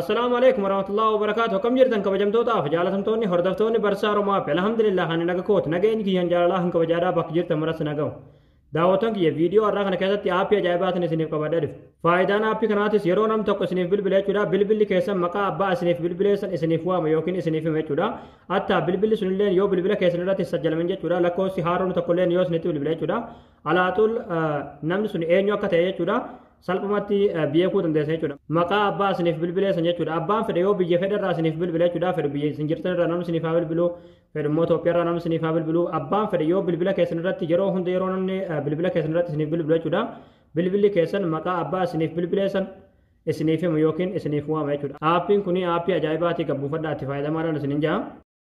Assalaamu alaikum warahmatullahi wabarakaatu akkam jirtan kabajamtootaaf jaalatamtoonni hordoftoonni barsaa Oromaa fi alhamdulillah ani naga kooti nageenyi kiyyaan jaalalaa hin kabajaadhaa bakka jirtan maras nagahu. Daawwattoon kiyya viidiyoo har'aa kana keessatti aappii ajaa'ibaatiin isiniif qabadhee dhufe. Faayidaan aappii kanaatis yeroo nam tokko isiniif bilbile jechuudha bilbilli keessan maqaa abbaa isiniif bilbileessan isiniif waama yookiin isiniif hima jechuudha. Attaa bilbilli sunilleen yoo bilbila keessan irratti sajjalamin jechuudha lakkoofsi haaroon tokkolleen yoo isinitti bilbile jechuudha. Alaaxul namni sun eenyu akka ta'e jechuudha. salphumatti beekuu dandeessa jechuudha. Maqaa abbaa isiniif bilbilee san jechuudha. Abbaan fedhe yoo biyya fedhe irraa isiniif bilbile jechuudha. Fedhu biyya isin jirtan irraa namni isiniif haa bilbilu. Fedhu immoo Itoophiyaa irraa namni isiniif haa bilbilu. Abbaan fedhe yoo bilbila keessan irratti yeroo hunda yeroo namni bilbila keessan irratti isiniif bilbilu jechuudha. Bilbilli keessan maqaa abbaa isiniif bilbilee san isiniif himu yookiin isiniif waama jechuudha. Aappiin kun aappii ajaa'ibaati kan buufadhaa itti fayyadamaa dhaan isinin jaa.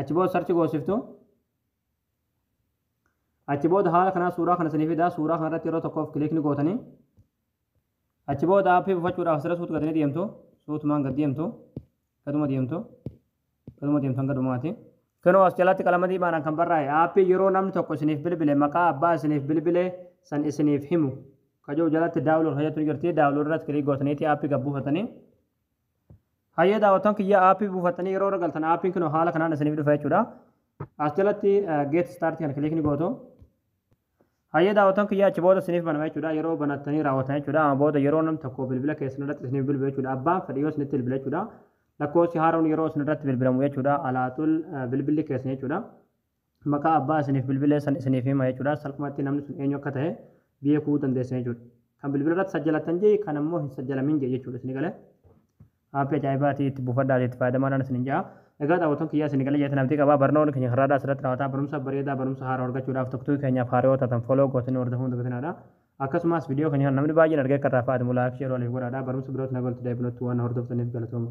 Achi booda sarchi goosiftu. Achi booda haala kanaa suuraa kana isinii fidaa suuraa kana irratti yeroo tokkoof kilikni gootanii. Achi booda aappii buufachuudhaaf asirra suut gadanii deemtu. Suutumaan gad deemtu. Gaduma deemtu. Gaduma deemtu hanga dhumaati. Kunoo as jalatti qalama diimaadhaan kan barraa'e aappii yeroo namni tokko isiniif bilbile maqaa abbaa isiniif bilbile san isiniif himu. Kajoo jalatti daawulood hojjetu ni jirti. Daawulood irratti kilik gootaniiti aappii gad buufatanii. Hayyee daawwattoon kiyya aappii buufattanii yeroo irra galtan aappiin kun haala kanaan isiniif dhufa jechuudha. As jalatti geet istaartii kana kiliikni gootu. Hayyee daawwattoon kiyya achi booda isiniif banama jechuudha. Yeroo banattanii raawwatan jechuudha. Amma booda yeroo namni tokko bilbila keessan irratti isiniif bilbilu jechuudha. Abbaan fedhe yoo isinitti bilbile jechuudha. Lakkoofsi haaroon yeroo isin irratti bilbilamu jechuudha. Alaaxul bilbilli keessan jechuudha. maqaa abbaa isiniif bilbilee san isiniif hima jechuudha. Salphumatti namni sun eenyu akka ta'e beekuu dandeessan jechuudha. Kan bilbila irratti sajjalattan jee kan ammoo hin sajjalamin jee jechuudha isin galee. Aappii ajaa'ibaati itti buufadhaati itti fayyadamaadhaan isin ja'a. Egaa daawwattoon kiyyaa isin galee jeetan abdii qabaa barnoonni keenya har'aadhaa asirratti raawwataa barumsa bareedaa barumsa haaraa argachuudhaaf tokkotuu keenyaaf haaraa yoo taatan foloo gootanii hordofuu hin dagatinaa. Akkasumas viidiyoo keenya namni baay'een argee akka irraa fayyadamu laayik sheer waliif godhaadhaa barumsa birootti nagaan itti deebinutti waan hordoftaniif galatooma.